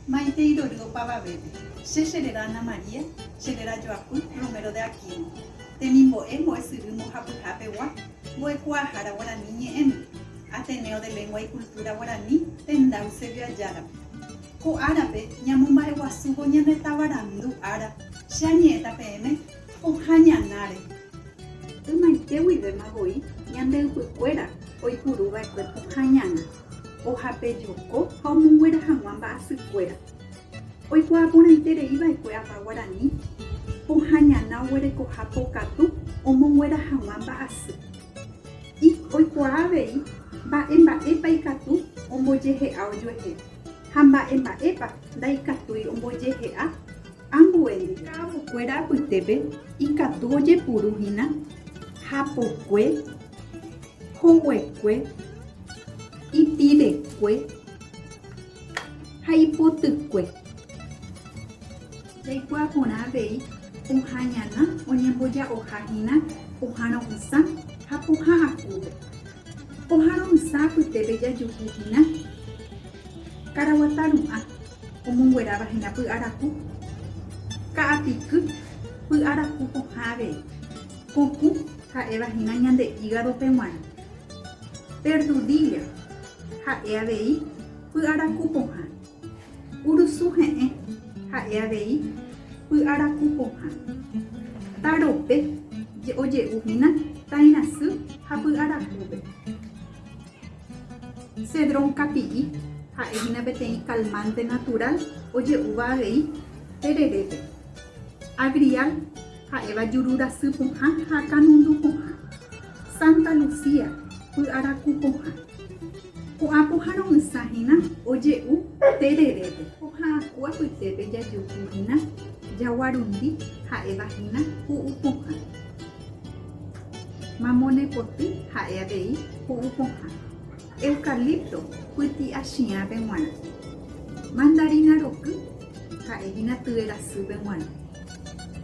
Maitei ndory opavavépe. Che cherera Ana María, cherera Joaquín Romero de Aquino. Temimbo'e mbo'esyry mbohapyha pegua, mbo'ekuaahára guarani ñe'ẽme, Ateneo de Lengua y Cultura Guaraní tenda Eusebio Ayárape. Ko árape ñamomba'eguasúvo ñane tavarandu ára, che añe'ẽta peẽme, pohã ñanáre. Ymaite guivéma voi ñande ypykuéra oipuru va'ekue pohã ñana. Ohapejoko ha omonguera hag̃ua mba'asykuéra. Oikuaa porãite rei va'ekue Apa Guarani, pohã ñana oguerekoha pokatu omonguera hag̃ua mba'asy. Ik oikuaa avei mba'e mba'épa ikatu ombojehe'a ojuehe ha mba'e mba'épa ndaikatúi ombojehe'a ambuéndi. Ka'avokuéra apytépe ikatu ojepuru hína hapokue hoguekue, ipivekue ha ipotykue. Jaikuaa porã avei oha'ãñana oñemboja'oha hína pohã ro'ysã ha pohã akúpe. Pohã ro'ysã apytépe jajuhu hína karaguata ru'ã omongueráva hína py'araku, ka'apiky, py'araku pohã avei. Puku ha'éva hína ñande ígadope g̃uarã. Perdudilla ha'e avei py'araku pohã. Urusu he'ẽ ha'e avei py'araku pohã. Tarope oje'u hína tairasy ha py'arakúpe. Cedrón kapi'i ha'e hína peteĩ calmante natural oje'úva avei tererépe. Agrial. Ha'éva juru rasy pohã ha kanundu pohã, Santa Lucía, py'araku pohã. Ko'ã pohã romysa hína oje'u tererépe. Pohã aku apytépe jajuhu hína jaguarundi, ha'éva hína pu'u pohã. Mamonepoty ha'e avei pu'u pohã. Eucalipto pyti'achiãpe g̃uarã. Mandarina roky ha'e hína tyve rasýpe g̃uarã.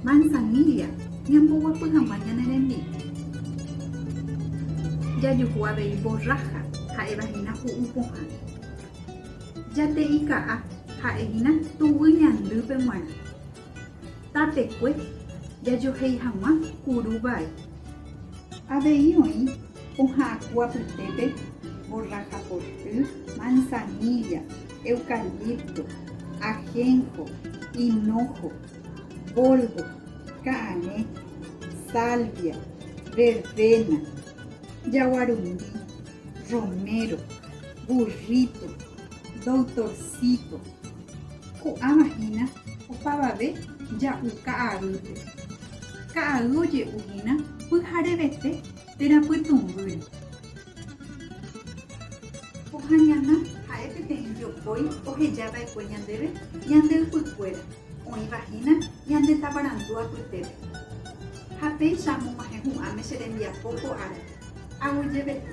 Manzanilla ñamboguapy hag̃ua ñane rembi'u. Jajuhu avei borraja ha'éva hína hu'u pohã. Jate'i ka'a ha'e hína tuguy ñandýpe g̃uarã. Tapekue jajohéi hag̃ua kuru vai. Avei oĩ pohã aku apytépe borraja porty, manzanilla, eucalipto, ajenco, hinojo, boldo, ka'arẽ, salvia, verbena, jaguarundi, romero, burrito, doutorcito, ko'ãva hína opavave ja'u ka'aýpe. Ka'ay oje'u hína pyharevete térã pytũmbýre. Ko'ã ñana ha'e peteĩ jopói oheja va'ekue ñandéve ñande ypykuéra, oĩva hína ñande tavarandu apytépe. Ha péicha amog̃uahẽ hu'ãme che rembiapo ko árape, aguyjevete.